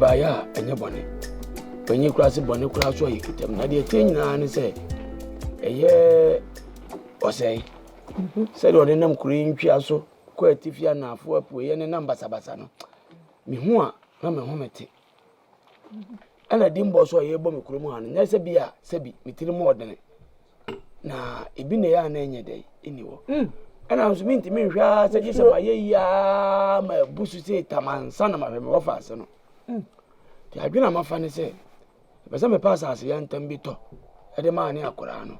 ɛbaeɛ a ɛnyɛ bɔne panyin koraa se bɔne koraa so a yɛkitam na deɛ ɛteɛ nyinaa ne sɛ ɛyɛ ɔsɛe Sɛdeɛ ɔde nam kuro yi ntwea so kɔ atifi anaafoɔ apueɛ ne nam basabasa no, mehu a na me ho mete. Ɛna di mbɔ so a yɛrebɔ me kurom ha no, nyɛ sɛ bi a sɛ bi me tiri mu ɔdene. Na ebi na ɛyɛ a na ɛnyɛ dɛ ɛni hɔ. Mm. Ɛna nso mentumi nhwɛ ara sɛ gye sɛ mayɛ yi ara ma abu so sɛ tamansa na mahwɛ me wɔfa ase no. Mm. Nti adwene a mafa ne sɛ Mepɛ sɛ mepɛ asase yantam bi tɔ de ma ne akwadaa no,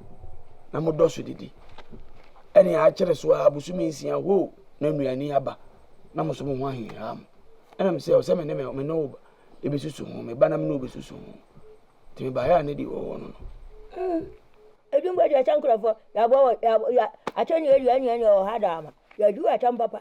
na modɔ so didi. Ɛnea akyere so ara bosome nsia hoo na nnuane aba, na mo nso mo ho ahinhia mo. Ɛna mesɛ ɔsɛ me ne me ne wo bɛsusu ho, me ba na me ne wo bɛsusu ho. Nti mebaeɛ a na di hɔ hɔ no no. Edwin Boakyɛ sɛ nkurɔfoɔ yɛaboa wɔ yɛ akyɛ ne yɛdua nnuane wɔ ha daa ma yɛadu atam papa.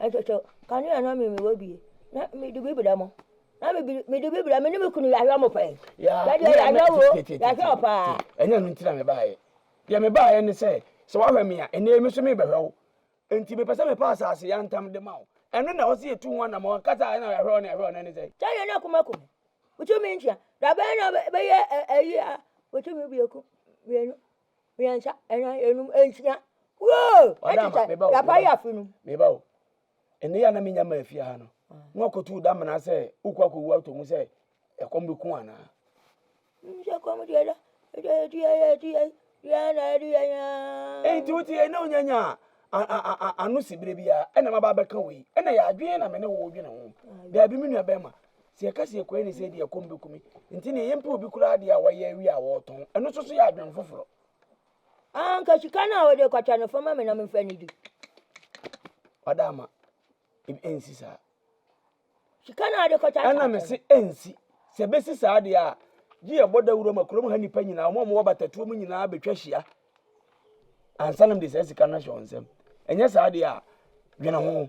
Ɛtwɛtwɛw, kanea na me mewɔ bie na me de bi bra mo na me bi me de bi bra me ne me kunu yɛahwɛ mo pɛn yɛde yɛahwɛ wo yɛahwɛ wo paa ɛnyɛ ɛno nti na me baayɛ deɛ me baayɛ ne sɛ sɛ wahwɛ me a ɛnɛ me so me bɛhwɛ wo nti mepɛ sɛ mepa asase yɛ ntam de ma wo ɛno na ɔsi etu ho anam ɔka sɛ ɛna yɛhwɛ wo na yɛhwɛ wo na ne sɛ kyɛ yɛ na kuma kuma wotumi nkyia dabɛn na bɛyɛ ɛyi a wotumi biako mmienu mmiɛnsa, nnan, nnum, nsia. Woo! Madam, Ɛtete, meba o, yapa meba. yɛ afe no. meba o ɛnɛ yɛ a na menya ma afie ha no na wakɔtu da mena sɛ wokɔ akɔwu atɔ mu sɛ ɛkɔm bɛku anaa Nhyɛ kɔm deɛ da, ɛdeɛ yɛ deɛ yɛ deɛ yɛ deɛ na ɛde yɛ nyaa. enti wote yɛ na wonya nya a- a- a- a- ano si berɛ biara ɛna maba abɛka wei ɛna yɛ adwene na me ne wo dwene ho daabi me nua bɛrima Sɛ yɛka sɛ yɛkɔyɛ ne sɛ deɛ ɛkɔm bɛku me nti neɛ yɛmpɛ obi koraa deɛ a wayɛ awie a wɔretɔn ɛno nso so yɛ adwene foforɔ anka sika no a wode kɔtwa no fama me na memfa ne di wada ama ɛnsi saa sika no a wode kɔtwa ɛna me se ɛnsi sɛ bɛsi saa deɛ a gye yɛbɔ dawuro ma kurom ha nnipa nyinaa ɔma ɔmowɔ batatuo mu nyinaa bɛtwa hyia ansa nom de saa sika no ahyɛ wo nsɛm ɛnyɛ saa deɛ a dwene ho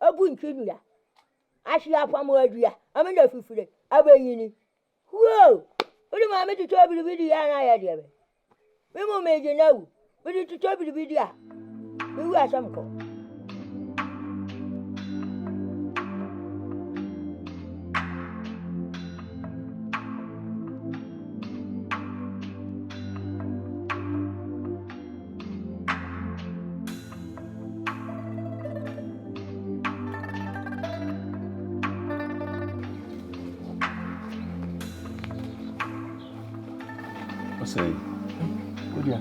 Abu ntwi nnua, ahye apamo adua, ama no afifire, abɛnyini. Huo! Wode maame totɔ biribi di a na ayɛ deɛ bɛ. Me mu megye no awu. Mede totɔ biribi di a, mewu asɛm kɔ. Ɔsɛe. Wodua.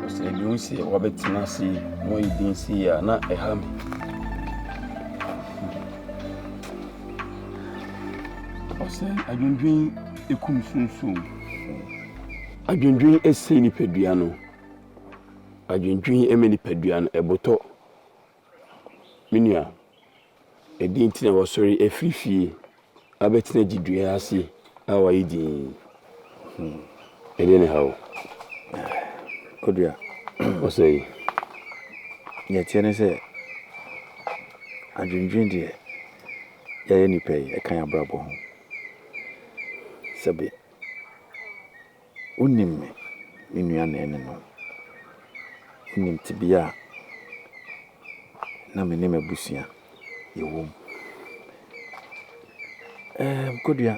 Ɔsɛe bi nsi a wabɛtena ase yi, mo yi bi nsi a na ɛha me. Ɔsɛe adwendwen ekum sunsun. Adwendwen esi nipadua no. adwendwen ma nipadua no, ɛbotɔ. Me nua, ɛdeɛn nti na wɔsɔre afiri fie abɛtena gyedua ase a wɔayɛ dinn? Hmm. Ɛdeɛ ne ha wo. Kodua. Ɔsɛ yi. Deɛ ɛteɛ ne sɛ, adwendwen deɛ yɛyɛ nipa yi, ɛka yɛn abrabɔ ho. Sɛbe, Wonim me, me nua naninom. Wonim tebea a na me ne m'abusua yɛwom. Ɛɛm, Kodua,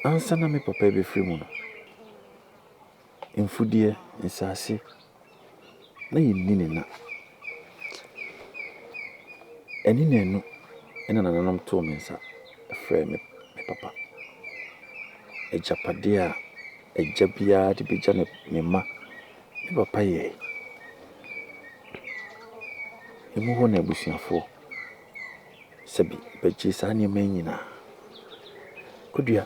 ansa na me papa rebɛfiri mu no, mfudeɛ, nsase, na yɛnni ne nna. Ɛne na ɛno na nananom too me nsa frɛɛ me me papa. Agyapadeɛ a agya biara de bɛgya ne ne mma, me papa yɛe. Emu hɔ na abusuafoɔ sɛbe bɛgyee saa nneɛma yi nyinaa. Kudua.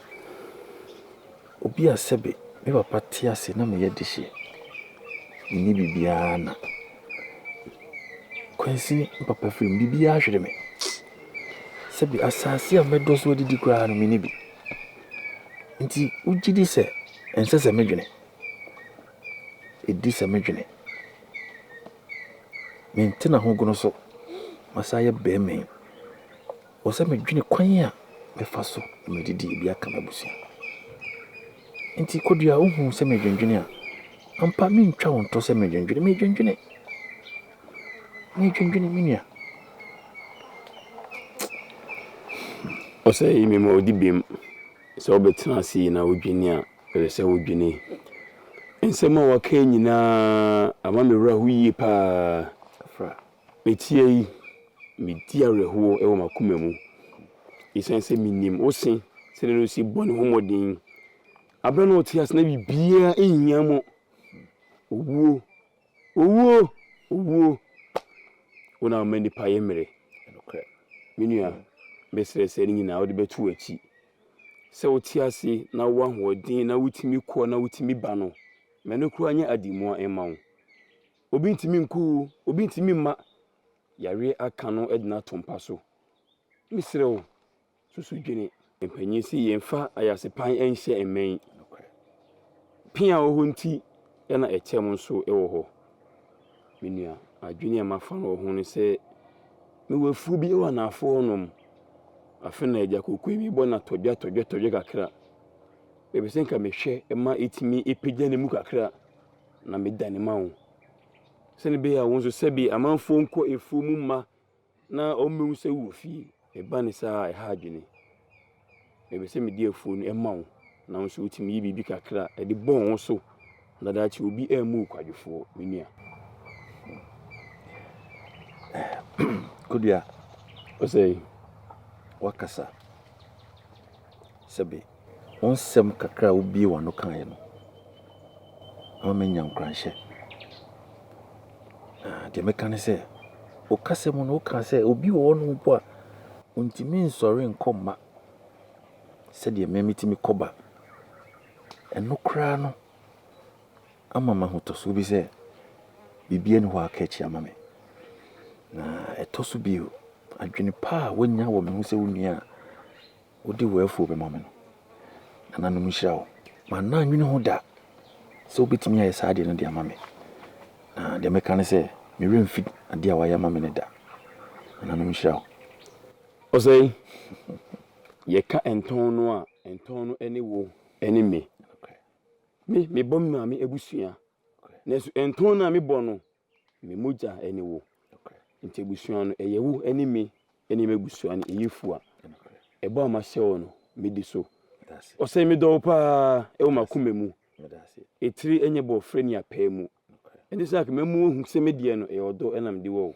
Obi a sɛbe me papa te ase na meyɛ dehye, menni biribiara na Kwansini me papa firi mu, biribiara ahwere me. Sɛbe asase a mɛdɔ so adidi koraa no menni bi. Nti wogye di sɛ ɛnsɛ sɛ medwene? Ɛdi sɛ medwene. Mentena ho gono so, masa yɛ bɛmɛn. wɔ sɛ medwene kwan a mɛfa so na mede de ebi aka m'abusua. Enti Kodua, wohu sɛ medwendwene a, ampa mentwa wo nto sɛ medwendwene, medwendwene. Medwendwene me nua. Ɔsɛ yi me ma ɔdi bem sɛ wobɛtena ase yi na wodwene a, ɛsɛ sɛ wodwene. Nsɛm a waka nyinaa ama me werɛ ho yie paa. Meteɛ yi, medi awerɛhoɔ wɔ m'akoma mu, ɛsiane sɛ menim wo se, sɛdeɛ na ɔsi bɔ ne ho mmɔden. Aberɛ na ɔte ase na biribiara nhia mo. Owuo, owuo, owuo, wo na woma nnipa yɛ mmere. Me nua, mesrɛ sɛ ne nyinaa wode bɛto w'akyi. Sɛ wote ase na wowɔ ahoɔden na wotumi kɔ na wotumi ba no, ma ɛno koraa nyɛ ade mua mma wo. Obi ntumi nku wo, obi ntumi mma yareɛ aka no agyina ato mpa so. Me srɛ wo, susu dwene. Mpanyin se yɛnfa ayasepan nhyɛ mmɛn. Pea wɔ hɔ nti na ɛkyɛm nso wɔ hɔ. Me nua, adwene a mafa no wɔ ho ne sɛ, mewɔ afuo bi wɔ anaafo hɔnom. Afe na agya kokoe bi bɔ no atɔdwa tɔdwa tɔdwa kakra. Mepɛ sɛ nka mehwɛ ma ɛtumi pagya ne mu kakra. na medane ma wo, sɛdeɛ ɛbɛyɛ a wo nso, sɛdeɛ amanfoɔ nkɔ afuo mu mma na wɔmmɛhu sɛ wowɔ fie. Me ba ne saa a ɛha adwene. Mepɛ sɛ mede afuo no ma wo, na wo nso wotumi yi biribi kakra de bɔ wo so, na daakye obi ammu wo kwadwofoɔ, me nua. Kodua, ɔsɛ wakasa. Sɛbe, wo nsɛm kakra a wubuee w'ano kae no, ama manya nkuranhyɛ. Na deɛ meka ne sɛ, wo kasa mu no, wokaa sɛ obi wɔ hɔnom mpo a ontumi nsɔre nkɔ mma sɛdeɛ mmɛ metumi kɔba. Ɛno koraa no ama mahotɔsoɔ bi sɛ biribi ani hɔ aka akyi ama me. Na ɛtɔ so bio, adwene pa a woanya wɔ me ho sɛ wo nua a, Wode w'afuo bɛma me no, nananom nhyira wo. Manna annwene ho da sɛ wobɛtumi ayɛ saa adeɛ no de ama me, na deɛ mɛka ne sɛ, me werɛ remfi adeɛ a woayɛ ama me no da. Nananom nhyira wo. Ɔsɛe, yɛka ntɔn no a, ntɔn no ne wo ne me. Me, mebɔ me maame abusua, nanso ntɔn no a mebɔ no, Me mogya ne wo. Nti abusua no, ɛyɛ wo ne me ne m'abusua no yefua. Ɛbɔ a mahyɛ wo no, medi so. Ɔsɛ medɔ wo paa ɛwɔ m'akoma mu. Etire nyɛ bɔ frɛ ni apaa mu. Ɛnti sɛ anka mɛmu wo ahu sɛ me deɛ no ɛyɛ ɔdɔ na mede wɔ wo.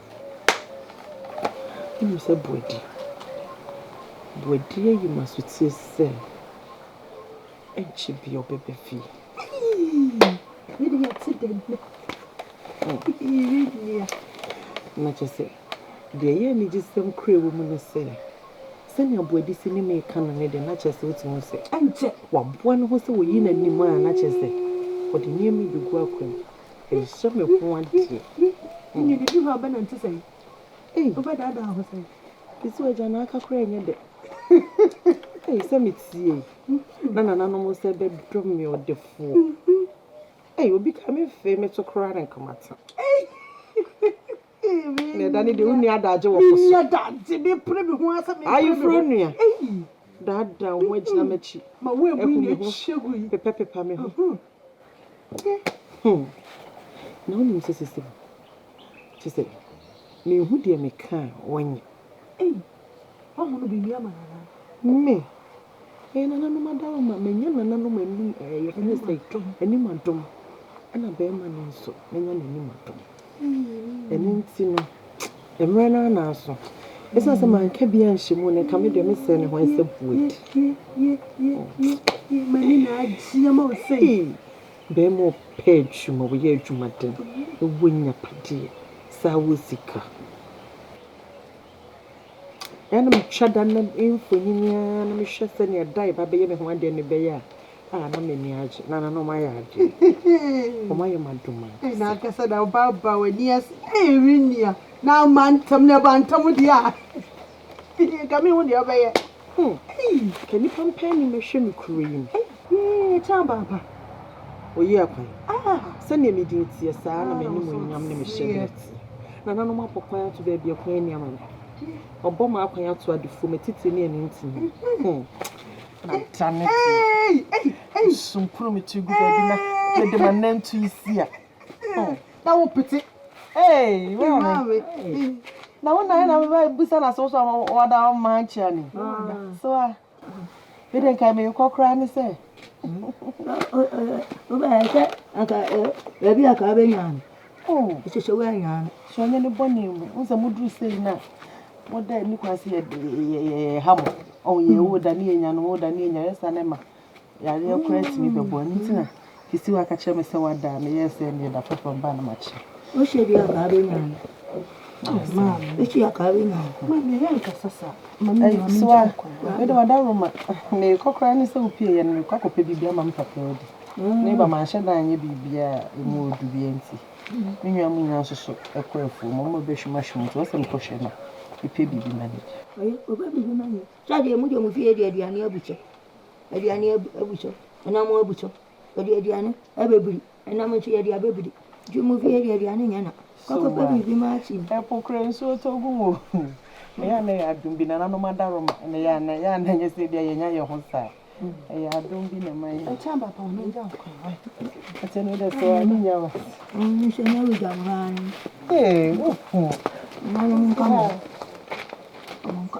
Wonim sɛ Boadi, Boadi ayi me asotie sɛ ɛnkyɛ biara ɔbɛba fie. Yɛde yɛte dɛ nnɛ. Yɛnyia. Na kyerɛ sɛ, deɛ ɛyɛ anigyesɛm kura wɔ mu ne sɛ, sɛnea Boadi si ne me reka no ne deɛ, na kyerɛ sɛ wotumi hu sɛ ɛnkyɛ waboa ne ho sɛ wayi n'anim a na kyerɛ sɛ ɔde nneɛma yi bɛgu akwan mu. Ɛsɛ me ho adeɛ. Nnididu ha ɔbɛ nante sɛn. Ei. Ɔbɛ daadaa ho sɛn. Ɛsɛ wagya na aka koraa ɛnyɛ dɛ. Ei sɛ me tie. Na nananom nso ɛbɛ dɔ me ɔdefoɔ. Ei obi ka me fee me to koraa ne nka mata. Ei. Nea ɛda ne deɛ wonni adagye wɔ po so. Ayeforɔ nua, daadaa wo ho gyina m'akyi, hu me ho, pepapepa me ho. Na wonim sɛ seesei no, kyerɛ sɛ menhu deɛ meka a wɔnyɛ. Me! Ɛyɛ nananom adaoma, manya nananom anim ɛɛ yɛfrɛ no sɛ anim adom ɛna bɛɛma no nso manya n'anim adom ɛno nti no mmerɛ no ara aso ɛsiane sɛ manka bi anhyɛ mu no nka me deɛ mesɛ ne ho ɛsɛ boed mani na agye ama wo sɛ bɛɛma ɔpɛ adwuma wɔyɛ adwumaden ɛwɔ nyapadeɛ saa wɔ sika Ɛna metwa da no mfonini ara na mehwɛ sɛnea da a ɛba bɛyɛ me ho adeɛ no bɛyɛ a, ah na m'ani agye. Na nananom ayɛ adeɛ. Wɔn ayɛ m'adom ara. Ɛna ankasa na ɔba aba w'ani ase. Ee me nua, na ama ntam na ɛba ntam deɛ a, nka mehu deɛ ɔbɛyɛ. Hum ei ka nipa mpɛn ni mɛhwɛ me kuro yi mu ei. Yee kyɛ aba aba oye akwan ah sɛdeɛ me din teɛ saa na m'animuonyam ne me hyɛberɛ teɛ nananom abɔ kwan ato baabi a kwan ni ama me wɔabɔ m'akwan ato adefoɔ m'atitire ne anintini hum na dane deɛ ei ei ei sonkono me tiri gu baabi na mede m'anantu yi si a. Oh, na wo pete. Hey, wo na me. Na wo na na me busa na so so wa da o man chia ni. So ah. Me den kai me kokra ni se. Wo ba se aka e bi aka be nyan. Oh, se se wa nyan. So nyan ni boni mu. Wo se mudru se na. Mo da ni kwase ye ye ye hamo. Oh, ye wo da ni nyan, wo da ni nyan sa ne ma. Yareɛ koraa tumi bɛbɔ ɛno nti na kisiwa ka kyerɛ me sɛ wada a meyɛɛ sɛ neɛ da foforɔ mba na makyɛ wohyɛ bi akaa bɛnya maa wohyɛ akaa bɛnya ma meyɛ nkasa saa ma meyɛ soa mede wada roma mekɔ koraa ne sɛ wopie yɛ no mekɔ akɔpɛ biribi ama me papa adi ne ba manhyɛ da anyɛ biribiaa ɛmu ɔdu bia nti me nwa mu nyina nso so ɛkɔ afuo mu ɔma bɛhwimahwim nti ɔsɛ mekɔhwɛ no mepɛ biribi ma no bi ɔyɛ ɔba biribi ma no sɛ deɛ mu deɛ mu fie deɛ aduane abukyɛ aduane abu so, nam abu so, yɛde aduane abɛbiri, nam nso yɛde abɛbiri, nti mo fie deɛ aduane nyɛ na, kɔkɔpɛ biribi ma akyim. Ɛpokorɛ nsuo tɔ gu mu o. Ɛyɛ a na ɛyɛ adom bi, nananom adaroma, na ɛyɛ a na ɛyɛ a na ɛnyɛ sɛ bia yɛnya yɛn ho saa. Ɛyɛ adom bi na ɛma yɛ. Ɛkyɛ aba pa ɔno gya nkwa wa. Ɛkyɛ no dɛ sɛ ɔno nya wa. Ɔno sɛ nya wigya nkwa wa. Ee, uhu. Nananom nka mo. Ɔmo nka.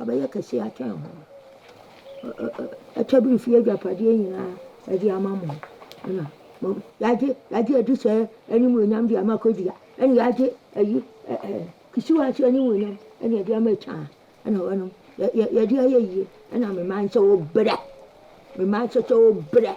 abɛyɛ kɛse akyɛn mo. Ɛ ɛ ɛ ɛkyɛ bi mfiri agyapadeɛ nyinaa de ama mo. Ɛna mo yɛagye yɛagye adi sɛ animuonyam de ama Kodia. Ɛna yɛagye ayi ɛ ɛ kisiwa nso animuonyam ɛna yɛde ama Etan. Ɛna wɔnom yɛ yɛ yɛde ayɛ yie. Ɛna me mma nso wobrɛ. Me mma nso so wobrɛ.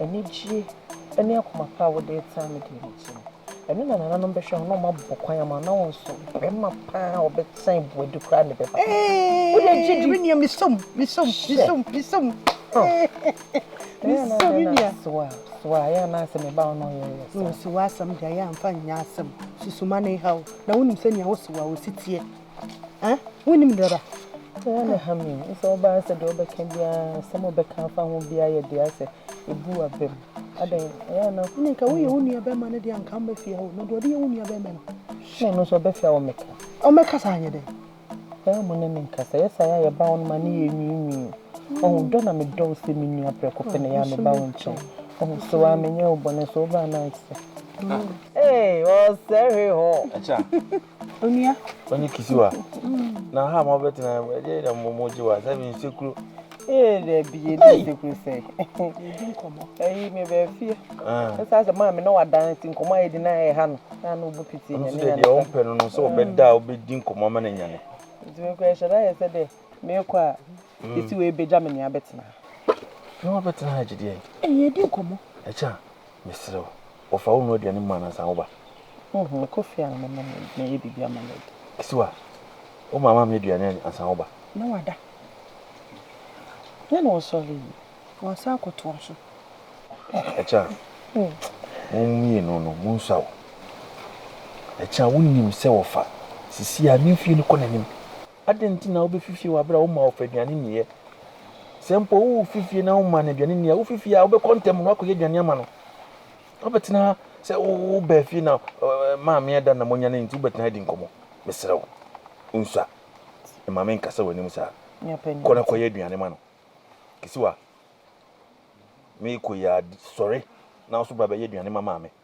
anigyeɛ ne akoma pa a wode retaa me deɛ no nti no, ɛno na nananom bɛhwɛ ho na wɔabɔ kwan ama wo, na wɔn nso barima pa a ɔbɛtan boadi koraa na ɛbɛba. Wode gye di? Menua, mesom, mesom, mesom, mesom. Mesom, menua. Soa, soa, yɛ anaasɛ me ba wo na ɔyɛ yɛ saa. Soa asɛm deɛ yɛ amfa nyɛ asɛm, susuma ne haw, na wonim sɛnea wo soa wo si teɛ. Ah, wonim dada. Sɛ na ha mi, sɛ ɔbaa sɛ deɛ ɔbɛka biara, sɛ mo bɛka afa ho biara yɛ deɛ sɛ ebu abam. Adɛn, ɛyɛ ana? Ɛna nka woyɛ wo nua bɛrima no deɛ nka mbɛ fie hɔ, na deɛ ɔde yɛ wo nua bɛrima no. Na ɛno nso ɔbɛfia wɔ meka. Ɔmɛka saa nyɛ dɛn? Ɛyɛ mo ne me nkasa, yɛ saa yɛ a yɛba wo no ma ne yɛ nwiinwii. Ɔho dɔ na medɔ wo sɛ me nua prɛko pɛ na ɛyɛ a meba wo nkyɛn. Ɔho so a menyɛ wo bɔne so wobaa na ayɛ te sɛ. Ee, ɔsɛ hwee hɔ. Ɛkyɛ a. Onua. Onye kisiwa. Na ha ma ɔbɛ tena ɛmu ɛdi ɛdi mo mo gye wa sɛ mi nsekuro. Ee dɛbi yɛ di nsekuro sɛ. Yɛdi nkɔmɔ. Ɛyi mi bɛ fie. Ɛsɛ asɛ maa mi na wa dan ti nkɔmɔ ayɛ di na ɛyɛ ha no. Na no bu piti nyɛ ne nyane. Ɔno sɛ deɛ ɔn pɛ no no sɛ ɔbɛ da ɔbɛ di nkɔmɔ ama ne nyane. Nti mi kɔ ɛhyɛ da yɛ sɛ dɛ mi kɔ a kisiwa ebe gya mi ni abɛ tena. Fi ɔbɛ tena ha gye deɛ. Ee yɛ di nkɔmɔ. Ɛkyɛ. Mesrɛ wo, wɔfa wo nnuru aduane mu anansa woba? Humm, mekɔ fie a mɛma no adi, mɛyɛ biribi ama no adi. Kisiwa, wo maame ammyɛ aduane ansa woba? Na wada. Yɛ na ɔsɔre yi, wansan akɔtoa so. Akya, mo mmienu no, monsuaw wo. Akya, wonnim sɛ wɔfa Sisi a ne mfeɛ no kɔ n'anim Adɛn nti na wubefi fie wɔ bere a wommaa wo fɛ aduane nniiɛ? Sɛ mpo wufi fie na wommaa no aduane nni a, wufi fie a, wobɛkɔ ntɛm na woakɔyɛ aduane ama no. Wobɛtena ha sɛ wobaa fie na maame ada na moanya no nti wobɛtena ha adi nkɔmmɔ? Mesrɛ wo, nsua. Mma menkasa w'anim saa. Kɔ na kɔyɛ aduane ma no. Kisiwa, merekɔ yi ara, sɔre na wo nso bra bɛyɛ aduane ma maame.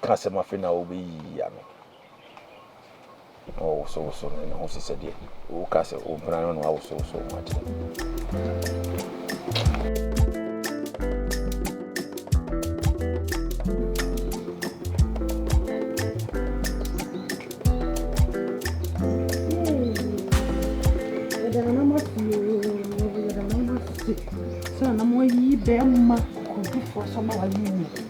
ka asɛm afei na wobɛyiyi ano na wɔwosowoso no ne ho si sɛdeɛ woka sɛ wo mpena no na wawosowoso ho akyerɛ sɛ na moayi bɛrima kokodufoɔ sɛ ma wayi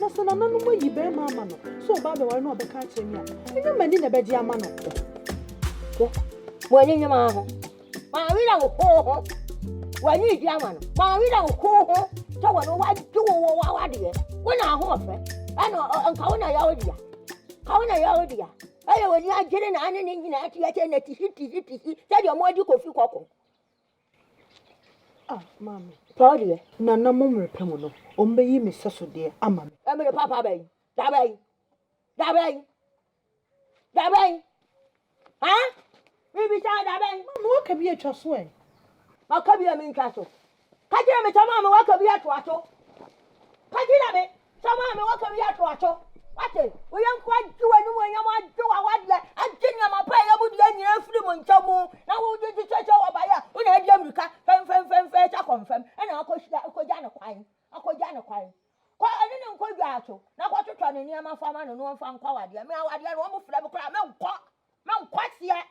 Na sɛ nananom ayi barima ama no sɛ ɔba abɛware na ɔbɛka akyerɛ me a, ɛnyɛ m'ani na ɛbɛgye ama no. Mo ani nye maa ho. Maa werɛ wo ho ho. W'ani redi ama no. Maa werɛ wo ho ho. Sɛ wɔ no wagye wo wɔ w'awadeɛ. Wo na ahoɔfɛ. Ɛna nka wo na yɛ wo dea. Ka wo na yɛ wo dea. Ɛyɛ w'ani agyere na ane ne nyinaa te akyɛ na tisi tisi tisi sɛdeɛ ɔmo adi kofi kɔkɔ. Ah, maame, pa wo deɛ. Na na mo mmerɛ pa mu no, wɔbɛyi me sɛso deɛ ama me. Mmerɛ papa bɛn? Da bɛn? Da bɛn? Da bɛn? Ha? Mebisa wo da bɛn? Maame, woaka bi atwa so ɛ. Maka bi a mentwa so. Ka kyerɛ me sɛ maame woaka bi atoa so. Ka kyerɛ me. Sɛ maame waka bi ato ato. Wate, wo yɔnko agye w'animuonyam, agye w'awadeɛ, agye nneɛma pa a ɛyɛ wo deɛ nyinaa afiri mo nkyɛn mu, na wode de kyɛkyɛ wɔ baeɛ a wo na adi amirika fɛmfɛmfɛmfɛ sɛ kɔ mfam, ɛna akɔhyia akɔgya ne kwan, akɔgya ne kwan. Kɔ ɛne ne nkɔ dwaa so, na kɔtotɔ ne nneɛma fa ma no na ɔmfa nkɔ awadeɛ. Me awadeɛ no, wɔmfrɛ me koraa, menkɔ, menkɔ aseɛ.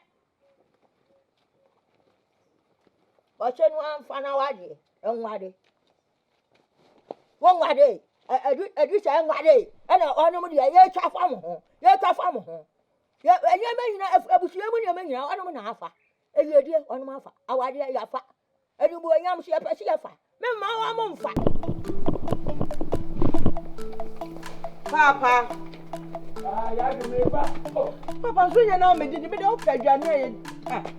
Wɔkyɛ no amfa no awadeɛ, nware. wɔnware ɛdu ɛdu sɛ ɛnware ɛna ɔnom deɛ yɛtwa fa mo ho yɛtwa fa mo ho yɛ nneɛma nyinaa abusua mu nneɛma nyinaa ɔnom na afa ɛyɛdie ɔnom afa awadeɛ yɛafa ɛnubuonyam so yɛpɛ sɛ yɛfa memma wa mo mfa paapa papa nso nyɛ na mede de mede wopɛ aduane a yɛ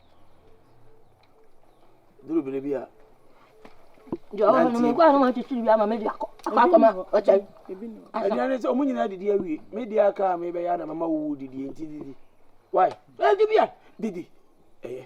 Duru bere bi a. Ɛdeɛ ne sɛ ɔmo nyinaa didi awie me deɛ aka a mebɛyɛ ana mama wowu didie nti didi wai ɛde bi a didi ɛyɛ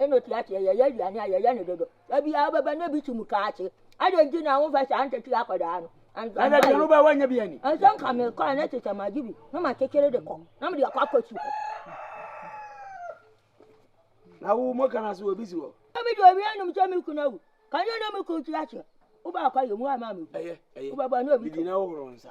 ɛna ɔte aseɛ yɛyɛ aduane a yɛyɛ no dodo da biara wobɛba na bi kyim kaakye adɛn nti na wofɛ saa ntakyi akɔdaa no ɛdɛdeɛno bɛ woanya bi ani ɛsɛ nka mekɔ a na te sɛ magye bi na makyekyere de kɔ na mede akɔ akɔ su hɔ na wo mɔ kana so obi si hɔ mede obi anom sɛ me kuna wu ka nyɛ na me kɔ ti aseɛ wobɛakɔ yɛ mu ama me wobɛbɔ ne obi na wohoro nsa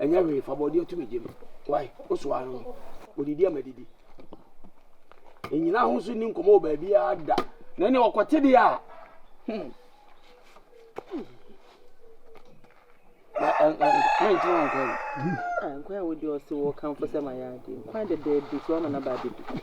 Ɛnyɛ hwee, fa bɔdeɛ to me gya mu. Wai, wo so ara no, ɔdidi a madidi. Ɛnyina ahosuo nni nkɔmmɔ wɔ baabiara da. Na ɛnna ɔkɔte deɛ a, hmm. Nkyɛn nkɔɛ. Nkɔɛ wo deɛ ɔse wɔ kamfo sɛ ma yɛ adeɛ. Nkɔɛ dɛdɛɛdɛ so ama na ba abɛdi.